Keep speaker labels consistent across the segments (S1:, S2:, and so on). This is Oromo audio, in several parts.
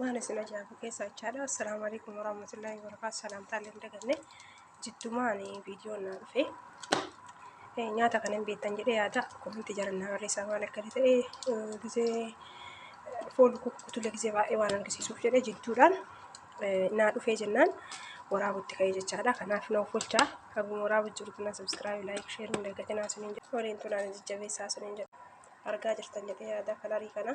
S1: Waan isin ajaa'ibu keessaa jechaadha. Assalaamu alaikum warahmatullahi wabarakatuh. Salaamtaan illee hin daganne. Jiddumaan viidiyoon naa dhufe. Eh, Nyaata kana hin beektan jedhee yaada. Komantii jalan naa barreessaa waan akkana ta'e eh, gizee foon kukkutulle gizee baay'ee waan argisiisuuf jedhee jidduudhaan eh, naa dhufee jennaan waraabutti ka'ee jechaadha. Kanaaf na offolchaa. Haguma waraabu jiru kana subscribe, like, share hin dagatinaa isiniin jedha. Waliin tunaan jajjabeessaa isiniin jedha. Argaa jirtan jedhee yaada kalarii kana.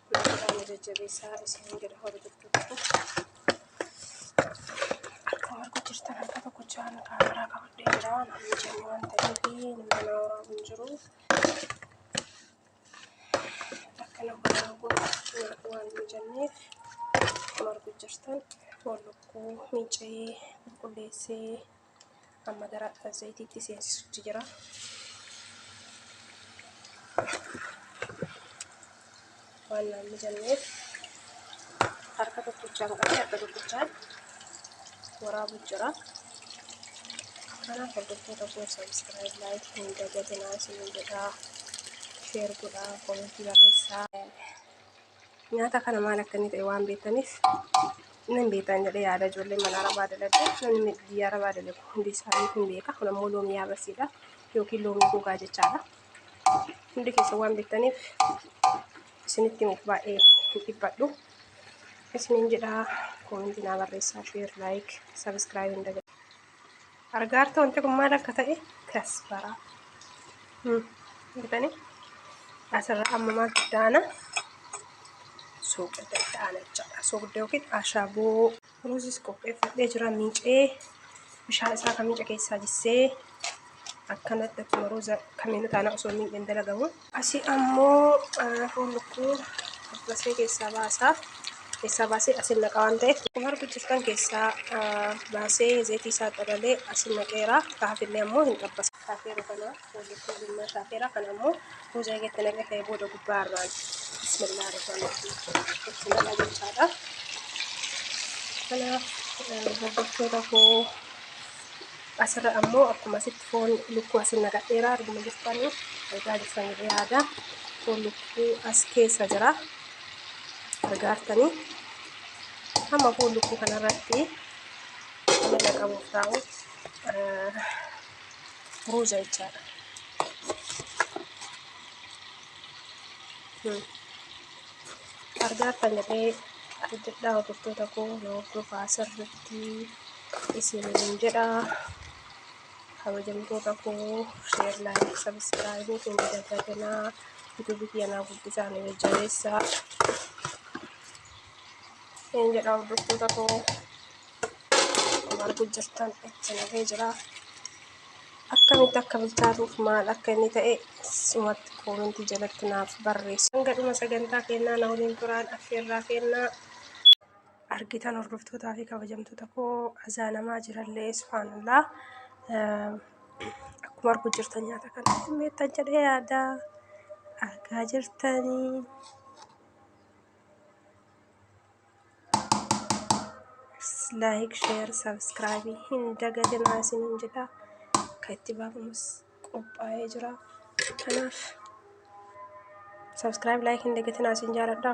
S1: Biqilaa na jajjabeessaa isin jedha warri jajjabeessu. Akkuma argu jirtan akka tokko jaan kaameraa qabadhee jira. Namni jiru waan ta'eef namni na waraabu hin jiru. Akka na waraabu waan hin jenneef akkuma argu jirtan wal lukkuu miicee qulqulleessee Amma gara zayitiitti seensisutti jira. Waan naan mijanneef harka tokkochaan qabee harka tokkochaan waraabuu jira. Kanaaf hordoftoota koo sabiskiraayib laayik hin dagatinaa isin jedhaa. Sheer godhaa, komentii barreessaa. nyaata kana maal akka inni ta'e waan beektaniif nan beektan jedhee yaada ijoollee mana arabaa dalagee namni biyya arabaa dalagu hundi isaanii hin beeka kun ammoo loomii yaabasiidha yookiin loomii gogaa jechaadha hundi keessa waan beektaniif isinitti himuuf baay'ee hin dhiphadhu isiniin jedhaa koomentii naa barreessaa sheer laayik sabiskiraayib hin dagattan Argaarta wanti kun maal akka ta'e kasbaraa. Argitanii? Asirraa amma maal daana? Soogidda daana jechaadha. Soogidda yookiin ashaboo. Ruuzis qopheeffadhee jira miicee bishaan isaa kan miica keessaa jissee akkanatti akkuma ruuza kamiinuu taanaa osoo miidheen dalagamu Asi ammo foon lukkuu abbasee keessaa baasaa. Keessaa baasee asin naqa waan ta'eef akkuma argu jirtan keessaa baasee zeetii isaa xalalee asin naqeera. Ka hafillee ammoo hin abbasa. Shaafeera kana foon lukkuu dhimmaa shaafeera kana ammoo ruuza eegetti naqee ka'ee booda gubbaa irraan bismillah rahmaan rahim itti naqa jechaadha. Kana hordoftoota koo Asirra ammoo akkuma asitti foon lukkuu asin nagadheera arguma jirtanii argaa jirtan jedhee yaada foon lukkuu as keessa jira argaa jirtanii amma foon lukkuu kanarratti mana qabuuf taa'u ruuza jechaadha. Argaa jirtan jedhee hojjedhaa hordoftoota koo na hordofaa sirriitti. isinin jedha kabajamtoota koo sheer laayik sabiskiraayibuu hin dagatinaa yutubi kiyanaa guddisaa nu jajjabeessaa hin jedha hordoftoota koo margu jirtan itti nagee jira akkamitti akka bilchaatuuf maal akka inni ta'e sumatti koomentii jalatti naaf barreessu hanga dhuma sagantaa kennaa na waliin turaan affeerraa kennaa argitan hordoftootaa fi kabajamtoota koo azaanamaa jirallee subhaanallah akkuma argu jirtan nyaata kan meettan jedhee yaada argaa jirtanii laayik sheer sabskraabii hin dagatinaa isinin jedha akka itti baafamus qophaa'ee jira kanaaf sabskraayib laayik hin dagatinaa isin jaaladha